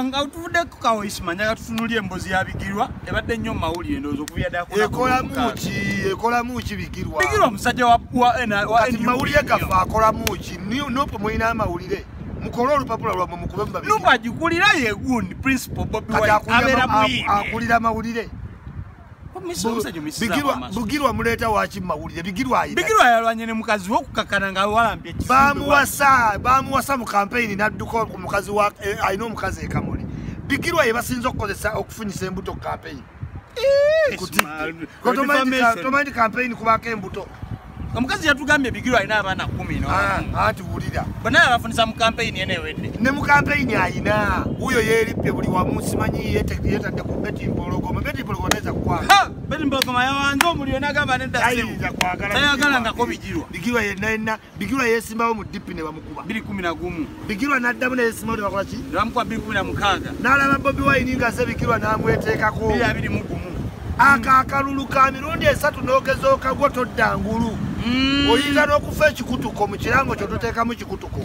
nga tuvudde ku kaoisma njaga tutunulya embozi ya bigirwa ebadde nnyo mu mawulire endowooza okuvira daekolamuki ekolamuki bigirwa bigirwa omusajja mawulire gaffe akolamuki nope mulina amawulire mukole olupapula lwamwe mukube mubabinubagikulira yegundi principal bobiakulira amawulire bugirwa muleeta waki mumawulire bigirwabigirwa yalwanye ne mukazi we okukakana nga walampye bamuwasa bamuwasa mu kampeyini nadduka ku mukazi wa eh, alina omukazi ekamuli bigirwa ye basinza okukozesa okufunyisa embuto kampeyini kutidde kotomanyi kampeyini kubaako embuto omukazi yatugambye bigiro alina abaana kumi ah, anti wulira banaye abafunisa mu kampeyini ena ewedde ne mu kampeyini alina wuyo yeerippe buli wamu simanyi yetadde ku beti mpologoma beti mpologoma nayinza kukwaa beti mpologoma yawanze omuliro nagamba nedda ayinza kwagala tayagalangako bigirwa bigirwa yenna yenna bigirwa yesimbawo mu dipi ne bamu biri kumi na gumu bigirwa n'addamu naye simoni bakola ki nebamukuba biri kumi na mukaaga n'alaba bobi wayini nga ze bigirwa n'amweteekako biri abiri mu gumu ako akalulu ka mirundi esatu n'ogezooka gwo todda ngulu mm. oyinza n'okufa ekikutuko mu kirango kyo toteekamu kikutuko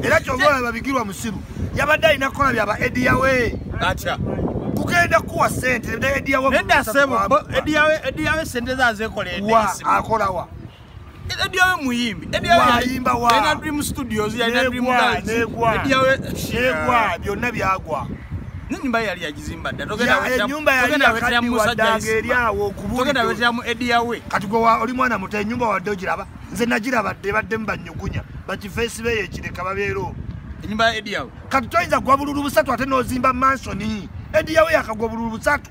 era kyova olaba bigirwa musiru yabadde alina kukola byaba ediyawe atya kugenda kuwa sente nediyawe sente zazekola akolawa Ediawe muyimbi. Ediawe yayimba wa. Yena Dream Studios, yena Dream Dance. Negwa. Ediawe. Negwa. Byonna byagwa. Nyumba yali yagizimba dda. Togenda wetya. Ya nyumba yali yakaddiwa musajja eri awo kubuli. Togenda wetya mu Ediawe. Kati gwe oli mwana muto enyumba wadde ogiraba. Nze nagiraba dde badde mbanyugunya. Bakifeesi be yekireka babeero. Enyumba ya Ediawe. Kati toyinza gwa bululu busatu ate n'ozimba mansoni. Ediawe yakagwa bululu busatu.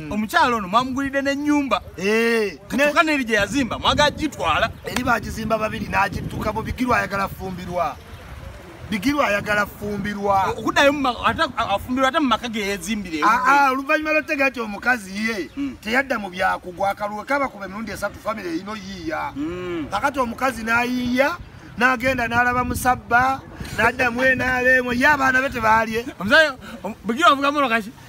Mm. omukyalo ono mwamugulidde nenyumba eh, katuka neri gyeyazimba mwaga gitwala eri bagizimba babiri nagituka mu bigirwa ayagala fumbirwa bigirwa ayagala fumbirwa okudayo afumbirwa ate mumaka geyezimbire ah, ah, oluvanyuma lotega ti omukazi ye mm. teyadda mu byakugwa akaluwe kaba kuba emirundi esatu famiry erino yiiya mm. kakati omukazi nayiiya nagenda nalaba musabba nadda mwenalemu ye abaana be tebalye omusayo bugira ovuga molo kaki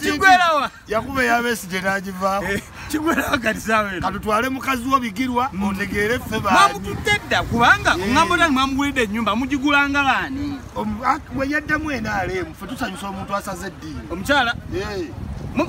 kigwerawa yakuba eyabesigye nagivaako eh, kigwerawa kati sawe katutwale mukazi wo bigirwa mm. otegeere ffe bamutudde dda kubanga eh. oŋambo tani mwamugulidde ennyumba mugigulanga baani ah, bwe yaddamu enaaleemu fe tusanyusa omuntu asaze eddiini omukyala eh.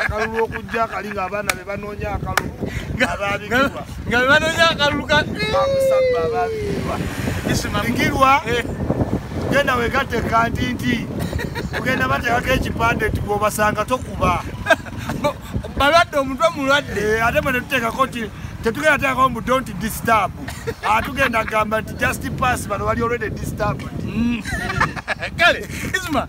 akalulu okujja akali nga abaana be banoonya akalulu ababikirwa nga be banoonya akalulu kamusabba ababikirwa isimalikirwa eh. genda wegatte kantinti ogenda bateekako ekipande nti gwobasanga tokuba balwadde omutwe mulwadde eh, ate mwe netuteekako nti tetugenda teekako mbu dont disturb atugenda ah, gamba nti just pass bano bali olwede disturb mm. kale isma